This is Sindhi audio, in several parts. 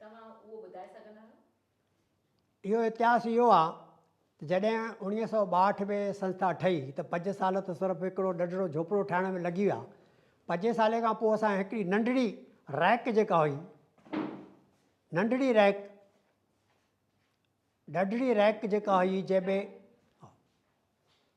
توهان اهو ٻڌائي سگهندا آهيو؟ اهو اتهاس اهو آ ته جڏهن اوڻيهه سؤ ٻاهٺ ۾ سنسٿا ٺهي ته پنج سال ته صرف هڪڙو ننڍڙو جهوپڙو ٺاهڻ ۾ لڳي ويا. پنجين سالين کان پوء اسان هڪڙي ننڍڙي ريڪ جيڪا هئي ننڍڙي ريڪ ننڍڙي ريڪ جيڪا هئي جنهن ۾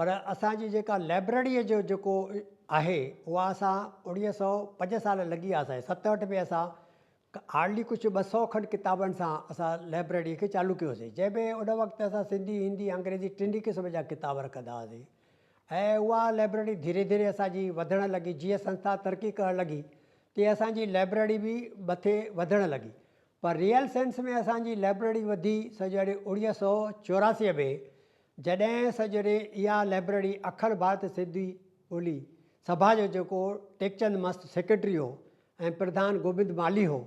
پر اسان جي جيڪا لئبرڙيء جو جيڪو آهي اها اسان اوڻيهه سئو پنج سال لڳي ويا سائين ستهٺ ۾ اسان هارڊلي ڪجهه ٻه سئو کن ڪتابن سان اسان لئبرڙيء کي چالو ڪيو هوسين جنهن ۾ ان وقت اسان سنڌي هندي انگريزي ٽنهي قسم جا ڪتاب رکندا هئاسين ۽ اها لئبرڙي ڌيري ڌيري اسان جي وڌڻ لڳي جيئن سنسٿا ترقي ڪرڻ لڳي تيئن اسان جي لئبرڙي به مٿي وڌڻ لڳي پر ريئل سينس ۾ اسان جي لئبرڙي وڌي سڄڻي اوڻيهه سئو چوراسي ۾ جڏهن سڄوري اها لئبرري اکر ڀارت سنڌي ٻولي سڀا جو جيڪو ٽيڪچند مست سيڪريٽري هو ۽ پرڌان گوبند مالهي هو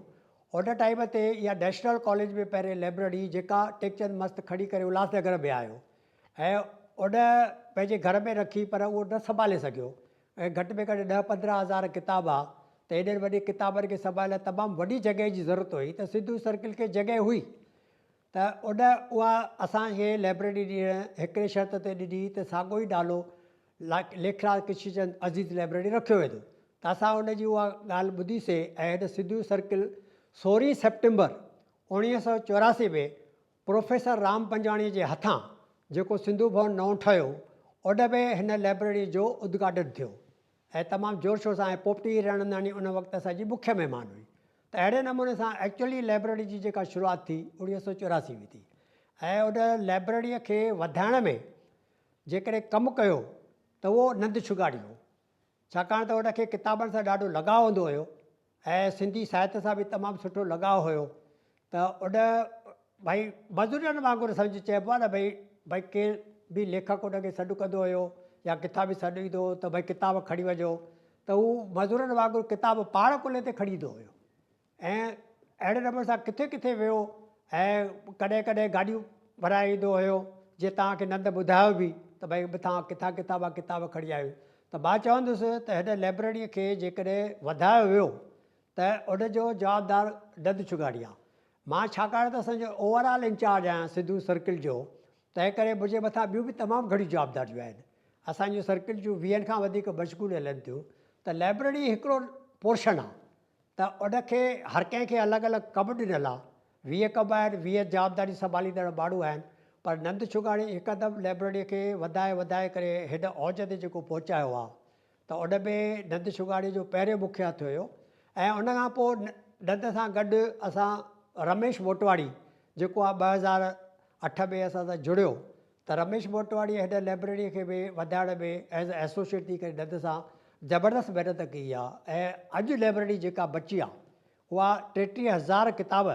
ان ٽائيم تي اها نيشنل ڪاليج ۾ پهرين لئبرري جيڪا ٽيڪچند مست کڻي ڪري الهاس نگر ۾ آيو ۽ ان پنهنجي گهر ۾ رکي پر اهو نه سنڀالي سگهيو ۽ گهٽ ۾ گهٽ ڏهه پندرهن هزار ڪتاب ها ته ايڏن وڏين ڪتابن کي سنڀالڻ لاء تمام وڏي جڳهه جي ضرورت هئي ته سنڌو سرڪل کي جڳهه هئي ته اڏ اها اسان کي لئبرٽي ڏيڻ هڪڙي شرط تي ڏني ته ساڳيو ئي نالو ليکراج ڪشنچند عزيز لئبرٽي رکيو ويندو ته اسان ان جي اها ڳالهه ٻڌي سي ۽ هن سنڌو سرڪل سورهين سيپٽمبر اوڻيهه سؤ چوراسي ۾ پروفيسر رام پنجواڻي جي هٿان جيڪو سنڌو ڀون نئون ٺهيو اڏ ۾ هن لئبرٽي جو ادگهاٽن ٿيو. ۽ تمام زور شور سان ۽ پوپٽي ريڻنداڻي ان وقت اسان جي مکيه مهمان هئي ته اهڙي نموني سان ايڪچوئلي لئبرري جي جيڪا شروعات ٿي اوڻيهه سؤ چوراسي ۾ ٿي ۽ ان لئبرري کي وڌائڻ ۾ جيڪڏهن ڪم ڪيو ته اهو نند شگاڙي هو ڇاڪاڻ ته ان کي ڪتابن سان ڏاڍو لڳاء هوندو هيو ۽ سنڌي ساهت سان به تمام سٺو لڳاء هيو ته ان ڀائي مزورن وانگر سمجهه چئبو آهي نه ڀائي ڀائي ڪير به ليکڪ ان کي سڏ ڪندو هيو يا ڪٿان به سڏ ايندو هو ته ڀائي ڪتاب کڻي وڃو ته هو مزورن وانگر ڪتاب پاڻ ڪلهي تي کڻي ايندو هيو ۽ اهڙي نموني سان ڪٿي ڪٿي ويو ۽ ڪڏهن ڪڏهن گاڏيون ڀرائي ايندو هيو جي توهان کي نند ٻڌايو به ته ڀائي مٿان ڪٿان ڪتاب ڪتاب کڻي آيو ته مان چوندس ته هن لئبرريء کي جيڪڏهن وڌايو ويو ته ان جو جوابدار نند ڇڳاڻي آ. مان ڇاڪاڻ ته اسان جو اوور آل انچارج آهيان سنڌو سرڪل جو، تنهن ڪري منهنجي مٿان ٻيون به تمام گهڻيون جوابداريون آهن. اسان جون سرڪل جون ويهن کان وڌيڪ مشغول هلن ٿيون ته لئبرري هڪڙو پورشن آ. ته ان کي هر ڪنهن کي الڳ الڳ ڪم ڏنل آ. ويهه ڪم آهن، ويهه جوابداري سنڀاليندڙ ماڻهو آهن، پر نند شگاڻي هڪدم لئبرريء کي وڌائي وڌائي ڪري هن اوج تي جيڪو پهچايو آ ته ان ۾ نند شگاڻي جو پهريون مکيه هٿ هيو ۽ ان کان پوء نند سان گڏ اسان رميش موٽواڻي جيڪو آ ٻه هزار اٺ ۾ اسان سان جڙيو ته رميش موٽواڻيء هن لئبرريء کي به وڌائڻ ۾ As a Associate ٿي ڪري ڏند سان زبردست محنت ڪئي آهي ۽ اڄ لئبرري جيڪا بچي آهي اها ٽيٽيهه هزار ڪتاب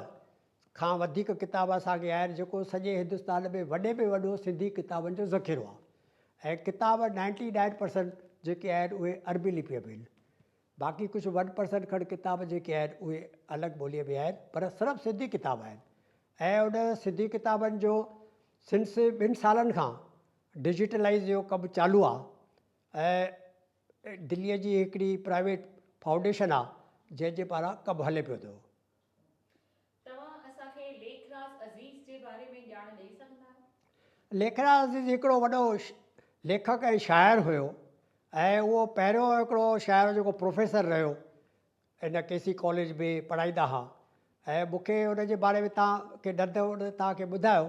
کان وڌيڪ ڪتاب اسان کي آهن جيڪو سڄي هندستان ۾ وڏي ۾ وڏو سنڌي ڪتابن جو ذخيرو آهي ۽ ڪتاب نائنٽي نائن پرسنٽ جيڪي آهن اهي عربي لپيء ۾ آهن باقي ڪجهه ون پرسنٽ کڻ ڪتاب جيڪي آهن اهي الڳ ٻوليء ۾ آهن پر صرف سنڌي ڪتاب آهن ۽ ان سنڌي ڪتابن جو سنس ٻن سالن کان ڊجيٽلائز جو ڪم چالو آهي ۽ دليء جي هڪڙي پرائيويٽ فائونڊيشن آهي جنهن جي پاران ڪم هلي پيو ٿو. توهان اسان کي ليکراز عزيز جي باري ۾ ڄاڻ ڏئي سگهندا آهيو؟ ليکراز عزيز هڪڙو وڏو ليکڪ ۽ شاعر هيو ۽ اهو پهريون هڪڙو شاعر هو جيڪو پروفيسر رهيو ان ڪي سي ڪاليج ۾ پڙهائيندا ها ۽ مون کي ان جي باري ۾ توهان کي ڏڌ ان توهان کي ٻڌايو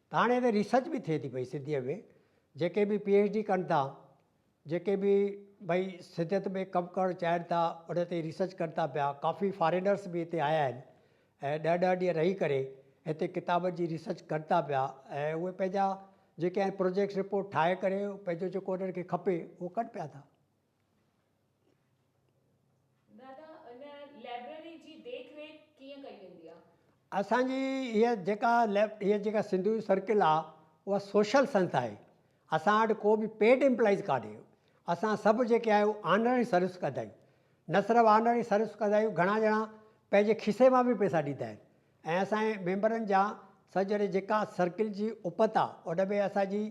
ڌاڻي تي ريسرچ به ٿئي ٿي پئي سنڌيء ۾ جيڪي به پي ايڇ ڊي ڪن ٿا جيڪي به ڀئي سنڌيت ۾ ڪم ڪرڻ چاهين ٿا ان تي ريسرچ ڪن ٿا پيا ڪافي فارينرس به هتي آيا آهن ۽ ڏهه ڏهه ڏينهن رهي ڪري هتي ڪتابن جي ريسرچ ڪن ٿا پيا ۽ اهي پنهنجا جيڪي آهن پروجيڪٽس رپورٽ ٺاهي ڪري پنهنجو جيڪو انهن کي کپي اهو ڪن پيا ٿا دادا ان لئبرري جي ديک ريک ڪيئن ڪئي ويندي آ. اسان جي هيء جيڪا لئب هيء جيڪا سنڌو يوٿ سرڪل آ اها سوشل سنسٿا آهي اسان وٽ ڪو به پيڊ امپلائيز ڪانهي اسان سڀ جيڪي آهيون آنرري سروس ڪندا آهيون نه صرف آنرري سروس ڪندا آهيون گهڻا ڄڻا پنهنجي کيسي مان به پئسا ڏيندا آهن ۽ اسان جي ميمبرن جا سر جهڙي جيڪا سرڪل جي اپت آ ان ۾ اسان جي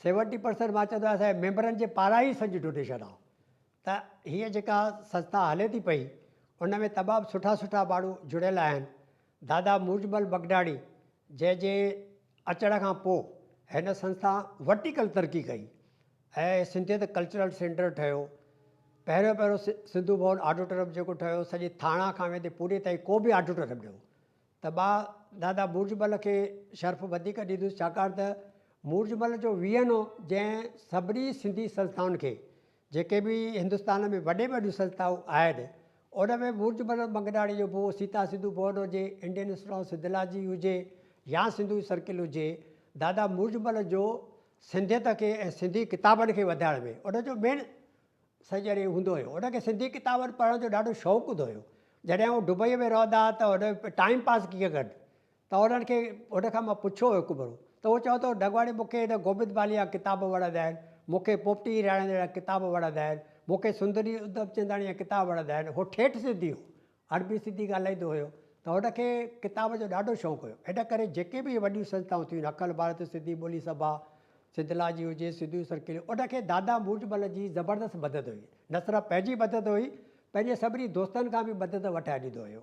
سيونٽي پرسنٽ مان چوندو اسان جي ميمبرن جي پاران ئي سڄي ڊونيشن آ ته هيء جيڪا سنسٿا هلي ٿي پئي ان ۾ تمام سٺا سٺا ماڻهو جڙيل آهن دادا موجمل مگناڻي جنهن جي اچڻ کان پو هن سنسٿا ورٽيڪل ترقي ڪئي هي سنڌيت ڪلچرل سينٽر ٺهيو. پهريون پهريون سنڌو ڀون آڊٽورم جيڪو ٺهيو سڄي ٿاڻا کان ويندي پوري تائين ڪو به آڊٽورم نه هو ته مان دادا مورج مل کي شرف وڌيڪ ڏيندس ڇاڪاڻ ته مورج مل جو ويهن هو جنهن سڀني سنڌي سنسٿائن کي جيڪي به هندستان ۾ وڏي ۾ وڏيون سنسٿائون آهن ان ۾ مورج مل منگناڻي جو به سيتا سنڌو ڀون هجي انڊين انسٽيٽيوٽ آف سنڌولاجي هجي يا سنڌو سرڪل هجي دادا مورج مل جو سنڌيت کي ۽ سنڌي ڪتابن کي وڌائڻ ۾ ان جو مين سڄڻي هوندو هيو. ان کي سنڌي ڪتابن پڙهڻ جو ڏاڍو شوق هوندو هيو. جڏهن هو دبئيء ۾ رهندا ها ته هن ٽائيم پاس ڪيئن ڪن؟ ته هنن کي هن کان مان پڇيو هو هڪ ڀيرو ته هو چوندو هو ڍڳواڻي مون کي هن گوبند باليء جا ڪتاب وڻندا آهن، مون کي پوپٽي هيراڻيندڙ جا ڪتاب وڻندا آهن، مون کي سندري ادب چنداڻي جا ڪتاب وڻندا آهن. هو ٺيٺ سنڌي هو. عربي سنڌي ڳالهائيندو هيو ته هن کي ڪتاب جو ڏاڍو شوق هيو. ان ڪري جيڪي به وڏيون سنستائون ٿيون اکل ڀارت، سنڌي ٻولي سڀا، سنڌ لا جي هجي، سنڌو سرڪل، ان کي دادا موجمل جي زبردست مدد هئي. نه صرف پنهنجي مدد هئي، پنهنجي سڀني دوستن کان به مدد وٺائي ڏيندو هيو.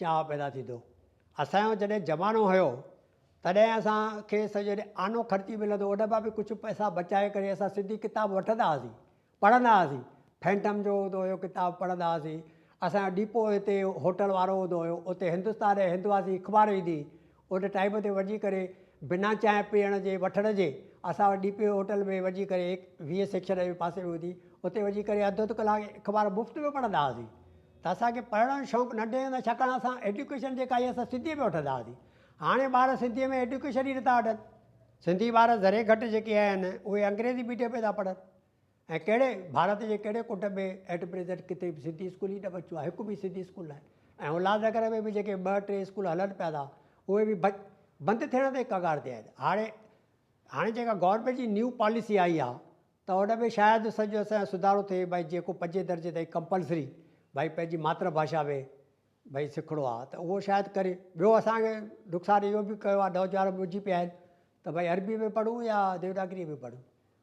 چاهه پيدا ٿيندو. اسان جو جڏهن زمانو هيو تڏهن اسان کي سڄو ڏينهن آنو خرچي ملندو ان مان به ڪجهه پئسا بچائي ڪري اسان سنڌي ڪتاب وٺندا هئاسين پڙهندا هئاسين فينٽم جو هوندو هيو ڪتاب پڙهندا هئاسين اسان جو ڊيپو هتي هوٽل وارو هوندو هيو اتي هندستان ۽ هندواسي اخبار ايندي هئي ان ٽائيم تي وڃي ڪري بنا چانهه پيئڻ جي وٺڻ جي اسان وٽ ڊي پي او هوٽل ۾ وڃي ڪري ويهه سيڪشن جي پاسي ۾ هوندي اتي وڃي ڪري اڌ اڌ ڪلاڪ اخبار مفت ۾ پڙهندا هئاسين ته اسان کي پڙهڻ جو شوق ننڍي هوندي ڇاڪاڻ اسان ايڊيوڪيشن جيڪا آهي اسان سنڌي ۾ وٺندا هئاسين هاڻي ٻار سنڌي ۾ ايڊيوڪيشن ئي نٿا وٺن سنڌي ٻار ذري گهٽ جيڪي آهن اهي انگريزي ميڊيم ۾ ٿا پڙهن ۽ ڪهڙي ڀارت جي ڪهڙي ڪٽنب ۾ ايٽ پريزنٽ ڪٿي به سنڌي اسڪول ئي نه بچيو آهي هڪ به سنڌي اسڪول ناهي ۽ اولاد نگر ۾ به جيڪي ٻه ٽي اسڪول هلن پيا ٿا اهي به بچ بند ٿيڻ تي ڪگار تي آهن هاڻي هاڻي جيڪا گورنمينٽ جي نيو پاليسي آئي آهي ته ان ۾ شايد سڄو اسان سڌارو ٿئي بھي جيڪو پنجين درجي تائين ڪمپلسري بھي پنهنجي ماتر بھاشا ۾ بھي سکڻو آهي ته اهو شايد ڪري ٻيو اسان کي نقصان اهو به ڪيو آهي نوجوان ٻڌجي پيا آهن ته بھي عربي ۾ پڙهون يا ديوناگري ۾ پڙهون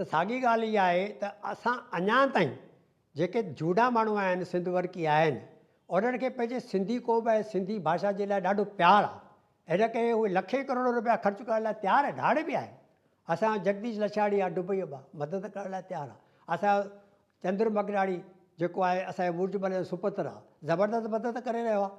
ته ساڳي ڳالهه اها آهي ته اسان اڃا تائين جيڪي جهوڏا ماڻهو آهن سنڌ ورڪي آهن انهن کي پنهنجي سنڌي قوم ۽ سنڌي ڀاشا جي لاء ڏاڍو پيار آهي ان ڪري اهي لکين ڪروڙ روپيا خرچ ڪرڻ لاء تيار ۽ ڌاڙي به آهن اسان جو جگديش لڇاڻي آهي ڊبئي مان مدد ڪرڻ لاء تيار آهي اسان جو چندر مگراڻي جيڪو آهي اسان جي مورچ ملهه جو سپوتر آهي زبردست مدد ڪري رهيو آهي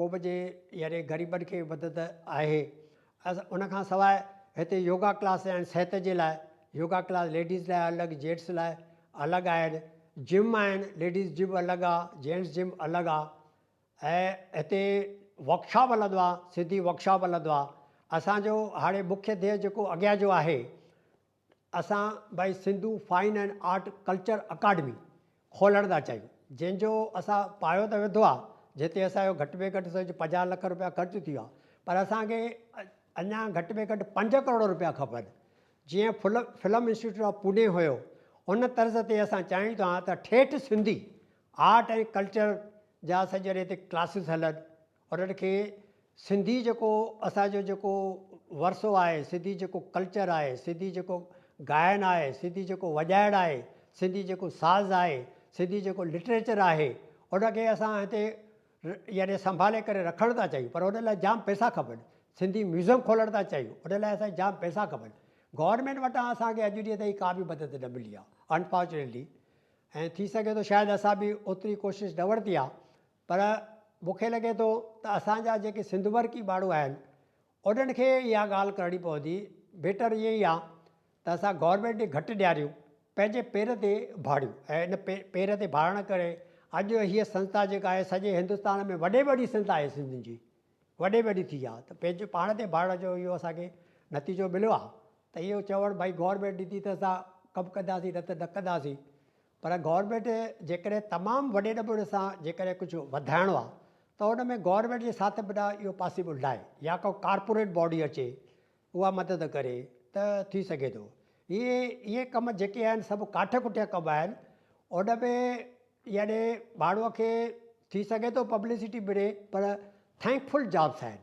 قوم جي يعني غريبن کي مدد آهي ان کان سواء هتي يوگا ڪلاس آهن صحت جي لاء يوگا ڪلاس ليڊيز لاء الڳ جينٽس لاء الڳ آهن جم آهن ليڊيز جم الڳ آ جينٽس جم الڳ آ ۽ هتي ورڪشاپ هلندو آ سنڌي ورڪشاپ هلندو آ اسانجو هاڻي مکيه ڌيئي جيڪو اڳيان جو آهي اسان بي Sindhu fine and art culture academy کولڻ ٿا چاهيون جنهن جو اسان پايو ته وڌو آهي جنهن تي اسان جو گهٽ ۾ گهٽ سمجهه پنجاهه لک روپيا خرچ ٿيو آهي پر اسان کي اڃا گهٽ ۾ گهٽ پنج ڪروڙ روپيا کپن جيئن full film institute of Pune هيو ان طرز تي اسان چاهيون ٿا ته ٺيٺ سنڌي آرٽ ۽ ڪلچر جا سڄي هتي ڪلاسز هلن انهن کي سنڌي جيڪو اسان جو جيڪو ورثو آهي، سنڌي جيڪو ڪلچر آهي، سنڌي جيڪو گائن آهي، سنڌي جيڪو وڄائڻ آهي، سنڌي جيڪو ساز آهي، سنڌي جيڪو لٽريچر آهي، ان کي اسان هتي يعني سنڀالي ڪري رکڻ ٿا چاهيون پر ان لاء جام پئسا کپن، سنڌي ميوزم کولڻ ٿا چاهيون ان لاء اسان کي جام پئسا کپن، گورنمينٽ وٽان اسان کي اڄ ڏينهن تائين ڪا به مدد نه ملي آهي انفارچونيٽلي ۽ ٿي سگهي ٿو شايد اسان به اوتري ڪوشش نه ورتي آهي پر مون کي لڳي ٿو ته اسان جا جيڪي سنڌ مرڪي ماڻهو آهن انهن کي اها ڳالهه ڪرڻي پوندي، بيٽر اهي ئي آ ته اسان گورنمينٽ ڏي گهٽ نهاريون پنهنجي پير تي ڀاڙيون ۽ ان پير تي ڀاڙڻ ڪري اڄ هيء سنسٿا جيڪا آهي سڄي هندستان ۾ وڏي ۾ وڏي سنسٿا آهي سنڌين جي وڏي ۾ وڏي ٿي آ ته پنهنجي پاڻ تي ڀاڙڻ جو اهو اسان کي نتيجو مليو آ ته اهو چوڻ ڀائي گورنمينٽ ڏتي ته اسان ڪم ڪنداسين نه ته نه ڪنداسين پر گورنمينٽ جيڪڏهن تمام وڏي نموني سان جيڪڏهن ڪجهه وڌائڻو آهي ته ان ۾ گورنمينٽ جي ساٿ بنا اهو پاسيبل ناهي يا ڪا ڪارپوريٽ باڊي اچي اها مدد ڪري ته ٿي سگهي ٿو هي اهي ڪم جيڪي آهن سڀ ڪاٺ ڪٽيا ڪم آهن ان ۾ يعني ماڻهوء کي ٿي سگهي ٿو پبلسٽي ملي پر ٿينڪ فل جابس آهن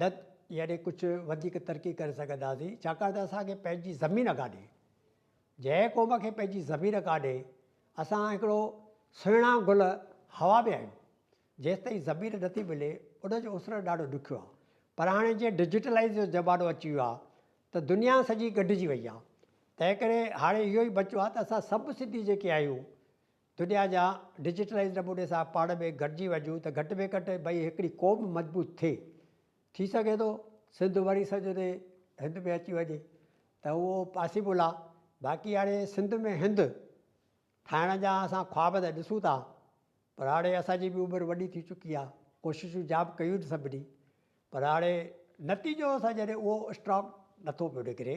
ڊڪ ياري ڪجهه وڌيڪ ترقي ڪري سگهنداسين ڇاڪاڻ ته اسان کي پنهنجي زمين ڪانهي جنهن قوم کي پنهنجي زمين ڪانهي اسان هڪڙو سهڻا گل هوا ۾ آهيون جيستائين زمين نٿي ملي ان جو اسرڻ ڏاڍو ڏکيو آهي پر هاڻي جيئن ڊجيٽلائيز جو زمانو اچي ويو آهي ته دنيا سڄي ڳنڍجي وئي آهي تنهن ڪري هاڻي اهو ئي بچو آهي ته اسان سڀ سنڌي جيڪي آهيون دنيا جا ڊجيٽلائيز نموني سان پاڻ ۾ گڏجي وڃون ته گهٽ ۾ گهٽ ڀئي هڪڙي قوم مضبوط ٿئي. ٿي سگهي ٿو سنڌ وري سڄڻي هند ۾ اچي وڃي ته اهو پاسيبل آ باقي هاڻي سنڌ ۾ هند ٺاهڻ جا اسان خواب ته ڏسون ٿا پر هاڻي اسان جي به عمر وڏي ٿي چڪي آ ڪوششون جام ڪيون سڀني پر هاڻي نتيجو اسان جڏهن اهو اسٽرانگ نٿو پيو نڪري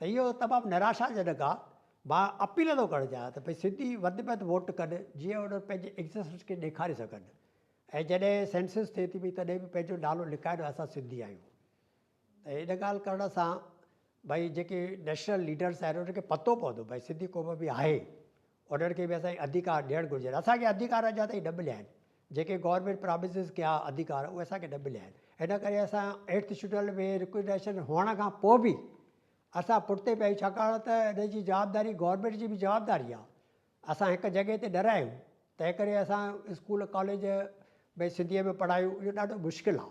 ته اهو تمام نراشاجنڪ آ. مان اپيل ٿو ڪرڻ چاهيان ته ڀئي سنڌي وڌ ۾ وڌ ووٽ ڪن جيئن انهن پنهنجي ايگزسٽنس کي ڏيکاري سگهن ۽ جڏهن سينسس ٿئي ٿي پئي تڏهن به پنهنجو نالو لکائين ته اسان سنڌي آهيون ته ان ڳالهه ڪرڻ سان ڀئي جيڪي نيشنل ليڊرس آهن انهن کي پتو پوندو ڀئي سنڌي قوم به آهي انهن کي به اسان کي اڌيڪار ڏيڻ گهرجن اسان کي اڌيڪار اڃا تائين نه مليا آهن جيڪي گورنمينٽ پراميسز ڪيا ادھيڪار اھي اسان کي نه مليا آھن ان ڪري اسان ايٽھ شيڊول ۾ رڪومينڊيشن ھئڻ کان پوء به اسان پٺتي پيا آھيون ڇاڪاڻ ته ان جي جوابداري گورنمينٽ جي به جوابداري آھي اسان ھڪ جڳھه تي نه رھيون تنهن ڪري اسان اسڪول ڪاليج ۾ سنڌي ۾ پڙھايون اھو ڏاڍو مشڪل آھي.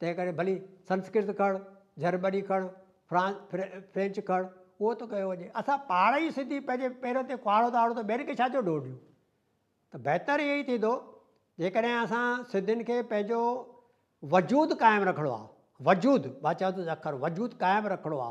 تنهن ڪري ڀلي سنسڪرت کڻ، جرمني کڻ، فرانس، فرينچ کڻ، اهو ته ڪيو وڃي. اسان پاڻ ئي سنڌي پنهنجي پيرن تي ڪهاڙو ٿا هڻون ته ٻين کي ڇا جو ڏوهه ڏيون؟ ته بهتر اهو ئي ٿيندو جيڪڏهن اسان سنڌين کي پنهنجو وجود قائم رکڻو آ، وجود، مان چوان ٿو اکر وجود قائم رکڻو آ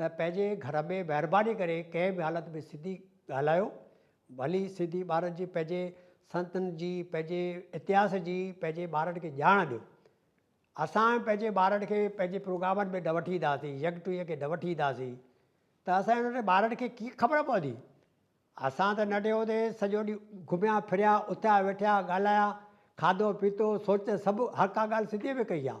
ته پنهنجي گهر ۾ مهرباني ڪري ڪنهن به حالت ۾ سنڌي ڳالهايو ڀلي سنڌي ٻارن جي پنهنجي سنتن جي پنهنجي اتهاس جي پنهنجي ٻارن کي ڄاڻ ڏيو اسان پنهنجي ٻارن کي پنهنجي پروگرامن ۾ نه وٺي اينداسين يڪ ٽوهي کي نه وٺي اينداسين ته اسان انهن ٻارن کي ڪيئن خبر پوندي اسان ته ننڍي هوندي سڄو ڏينهن گهميا ڦريا اٿيا ويٺيا ڳالهايا کاڌو پيتو سوچ سڀ هر ڪا ڳالهه سنڌي ۾ ڪئي آهي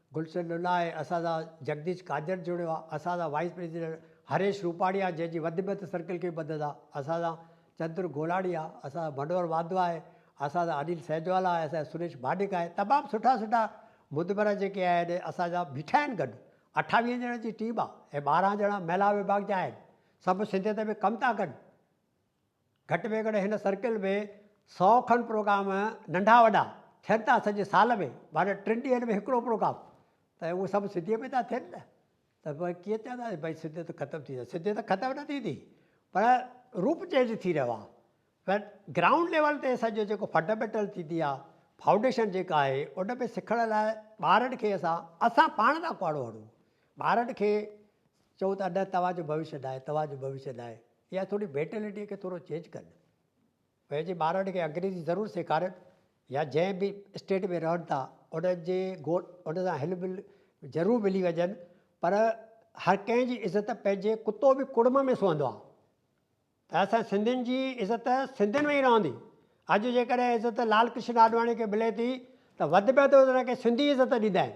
گلشن ننائي، اساتذه جگديش قادر چوڻيو آ، اساتذه وائيس پريزيڊنٽ هريش روپاڻي آ جنهن جي وڌ ۾ وڌ سرڪل کي مدد آ، اساتذه چندر گولاڻي آ، اساتذه منوهر واڌوا آهي، اساتذه انيل سهجوالا آهي، اساتذه سريش مانڊڪ آهي، تمام سٺا سٺا مدبرا جيڪي آهن اساتذه بيٺا آهن گڏ، اٺاويهن ڄڻن جي ٽيم آ ۽ ٻارهن ڄڻا مهلا وڀاڳ جا آهن، سڀ سنڌيت ۾ ڪم ٿا ڪن. گهٽ ۾ گهٽ هن سرڪل ۾ سؤ کن پروگرام ننڍا وڏا ٿين ٿا سڄي سال ۾ معنيٰ ٽن ڏينهن ۾ هڪڙو پروگرام ته اهي سڀ سنڌيء ۾ ٿا ٿين نه ته پوء ڪيئن چونداسين ڀئي سنڌيت ختم ٿي وئي سنڌيت ختم نه ٿيندي پر روپ چينج ٿي رهيو آهي بٽ گرائونڊ ليول تي سڄو جيڪو فنڊامينٽل ٿيندي آهي فائونڊيشن جيڪا آهي ان ۾ سکڻ لاء ٻارن کي اسان اسان پاڻ ٿا ڪهاڙو هڻون ٻارن کي چئون ٿا نه توهان جو ڀوشيه ناهي توهان جو ڀوشيه ناهي اها ٿوري بيٽلٽي کي ٿورو چينج ڪن پنهنجي ٻارڙن کي انگريزي ضرور سيکارن يا جنهن به اسٽيٽ ۾ رهن ٿا انهن جي گوڏ ان سان هل مل ضرور ملي وڃن پر هر ڪنهن جي عزت پنهنجي ڪتو به ڪڙم ۾ سهندو آهي ته اسان سنڌين جي عزت سنڌين ۾ ئي رهندي اڄ جيڪڏهن عزت لال ڪرشن آڏواڻي کي ملي ٿي ته وڌ ۾ وڌ ان کي سنڌي عزت ڏيندا آهن